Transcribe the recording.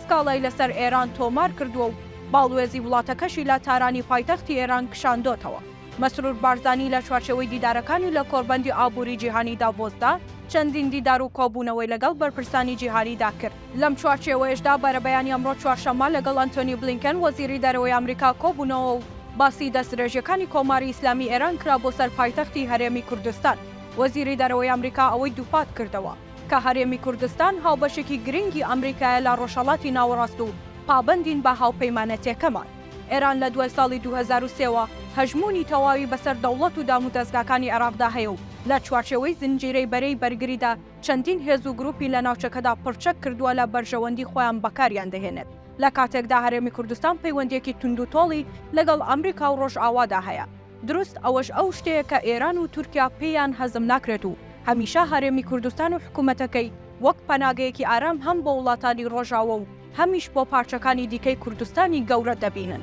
سکاڵای لەسەر ئێران تۆمار کردووە و باڵوێزی وڵاتەکەشی لە تارانی پایتەختی ئێران کشاندۆتەوە. مەسرور بارزانی لە چوارچێوەی دیدارەکانی لە کۆڕبەندی ئابووری جیهانی داڤۆسدا چەندین دیدار و کۆبوونەوەی لەگەڵ بەرپرسانی جیهانیدا کرد. لەم چوارچێوەیەشدا بەرەبەیانی ئەمڕۆ چوارشەممە لەگەڵ ئەنتۆنی بلینکن وەزیری دەرەوەی ئامریکا کۆبوونەوە و باسی دەستدرێژیەکانی کۆماری ئیسلامی ئێران کرا بۆ سەر پایتەختی هەرێمی کوردستان. وەزیری دەرەوەی ئامریکا ئەوەی دووپات کردەوە، کە هەرێمی کوردستان هاوبەشێکی گرنگی ئەمریکایە لە ڕۆژهەڵاتی ناوەڕاست و پابەندین بە هاوپەیمانەتیەکەمان. ئێران لە دوای ساڵی دوو هەزار و سێ وە هەژموونی تەواوی بەسەر دەوڵەت و دامودەزگاکانی عێراقدا هەیە و لە چوارچێوەی زنجیرەی بەرەی بەرگریدا چەندین هێز و گروپی لە ناوچەکەدا پڕچەک کردووە لە بەرژەوەندی خۆیان بەکاریان دەهێنێت لە کاتێکدا هەرێمی کوردستان پەیوەندیەکی توندوتۆڵی لەگەڵ ئەمریکا و ڕۆژئاوادا هەیە. دروست ئەوەش ئەو شتەیە کە ئێران و تورکیا پێیان هەزم ناکرێت و هەمیشە هەرێمی کوردستان و حکوومەتەکەی وەک پەناگەیەکی ئارام هەم بۆ وڵاتانی ڕۆژاوە و هەمیش بۆ پارچەکانی دیکەی کوردستانی گەورە دەبینن.